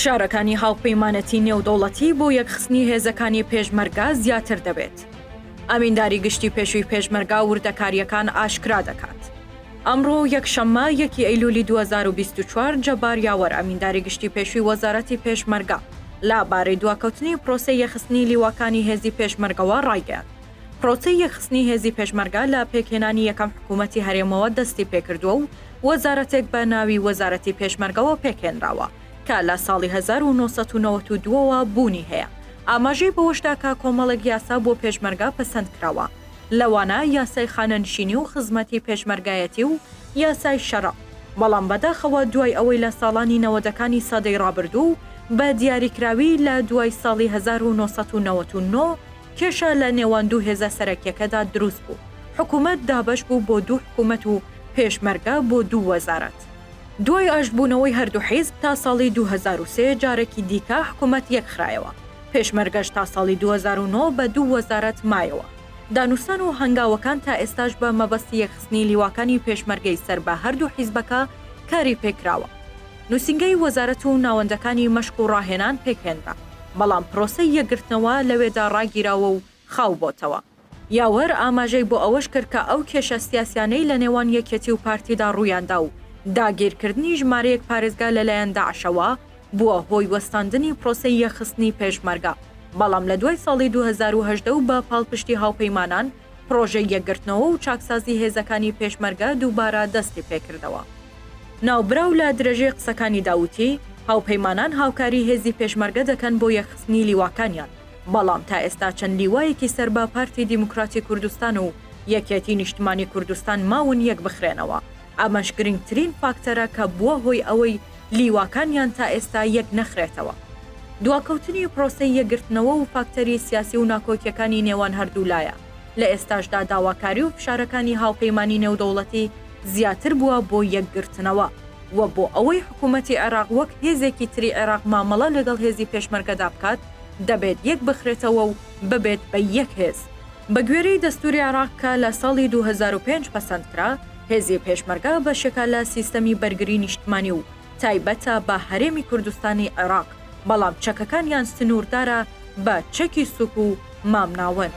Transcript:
فشارەکانی هاوپەیمانەتی نێودەوڵەتی بۆ یەکخستنی هێزەکانی پێشمەرگە زیاتر دەبێت. ئەمینداری گشتی پێشووی پێشمەرگە وردەکارییەکان ئاشکرا دەکات. ئەمڕۆ یەکشەممە یەکی ئەیلوولی دوو هەزار و بیست و چوار جەبار یاوەر ئەمینداری گشتی پێشووی وەزارەتی پێشمەرگە لە بارەی دواکەوتنی پرۆسەی یەخستنی لیواکانی هێزی پێشمەرگەوە ڕایگەیاند، پرۆسەی یەکخستنی هێزی پێشمەرگە لە پێکهێنانی یەکەم حکوومەتی هەرێمەوە دەستی پێکردووە و وەزارەتێک بە ناوی وەزارەتی پێشمەرگەوە پێکهێنراوە کە لە ساڵی هەزار و نۆ سەد و نەوەد و دوو ەوە بوونی هەیە. ئاماژەی بەوەشدا کە کۆمەڵێک یاسا بۆ پێشمەرگە پەسەند کراوە لەوانە یاسای خانەنشینی و خزمەتی پێشمەرگایەتی و یاسای شەرع، بەڵام بەداخەوە دوای ئەوەی لە ساڵانی نەوەدەکانی سەدەی ڕابردوو بە دیاریکراوی لە دوای ساڵی هەزار و نۆ سەد و نەوەد و نۆ، کێشە لە نێوان دوو هێزە سەرەکیەکەدا دروست بوو، حکومەت دابەش بوو بۆ دوو حکومەت و پێشمەرگە بۆ دوو وەزارەت. دوای ئاشتبوونەوەی هەردوو حیزب تا ساڵی دوو هەزار و سێ جارەکی دیکە حکومەت یەکخرایەوە، پێشمەرگەش تا ساڵی دوو هەزار و نۆ بە دوو وەزارەت مایەوە. دانوستان و هەنگاوەکان تا ئێستاش بە مەبەستی یەکخستنی لیواکانی پێشمەرگەی سەر بە هەردوو حیزبەکە کاری پێکراوە. نوسینگەی وەزارەت و ناوەندەکانی مەشق و ڕاهێنان پێکهێنرا، بەڵام پرۆسەی یەکگرتنەوە لەوێدا ڕاگیراوە و خاو بۆتەوە. یاوەر ئاماژەی بۆ ئەوەش کرد کە ئەو کێشە سیاسیانەی لە نێوان یەکێتی و پارتیدا ڕوویاندا و داگیرکردنی ژمارەیەک پارێزگا لەلایەن داعشەوە بووە هۆی وەستاندنی پرۆسەی یەکخستنی پێشمەرگە، بەڵام لە دوای ساڵی دوو هەزار و هەژدە و بە پاڵپشتی هاوپەیمانان پڕۆژەی یەکگرتنەوە و چاکسازی هێزەکانی پێشمەرگە دووبارە دەستی پێکردەوە. ناوبراو لە درێژەی قسەکانیدا وتی، هاوپەیمانان هاوکاری هێزی پێشمەرگە دەکەن بۆ یەکخستنی لیواکانیان، بەڵام تا ئێستا چەند لیوایەکی سەر بە پارتی دیموکراتی کوردستان و یەکێتی نیشتمانی کوردستان ماون یەکبخرێنەوە. ئەمەش گرنگترین فاکتەرە کە بووە هۆی ئەوەی لیواکانیان تا ئێستا یەک نەخرێتەوە. دواکەوتنی پرۆسەی یەکگرتنەوە و فاکتەری سیاسی و ناکۆکیەکانی نێوان هەردوولایە، لە ئێستاشدا داواکاری و فشارەکانی هاوپەیمانی نێودەوڵەتی زیاتر بووە بۆ یەکگرتنەوە و بۆ ئەوەی حکومەتی عێراق وەک هێزێکی تری عێراق مامەڵە لەگەڵ هێزی پێشمەرگەدا بکات دەبێت یەک بخرێتەوە و ببێت بە یەک هێز. بە گوێرەی دەستوری عێراق کە لە ساڵی دوو هەزار و پێنج پەسەندکرا، هێزی پێشمەرگە بەشێکە لە سیستەمی بەرگری نیشتمانی و تایبەتە بە هەرێمی کوردستانی عێراق، بەڵام چەکەکانیان سنووردارە بە چەکی سوک و مامناوەند.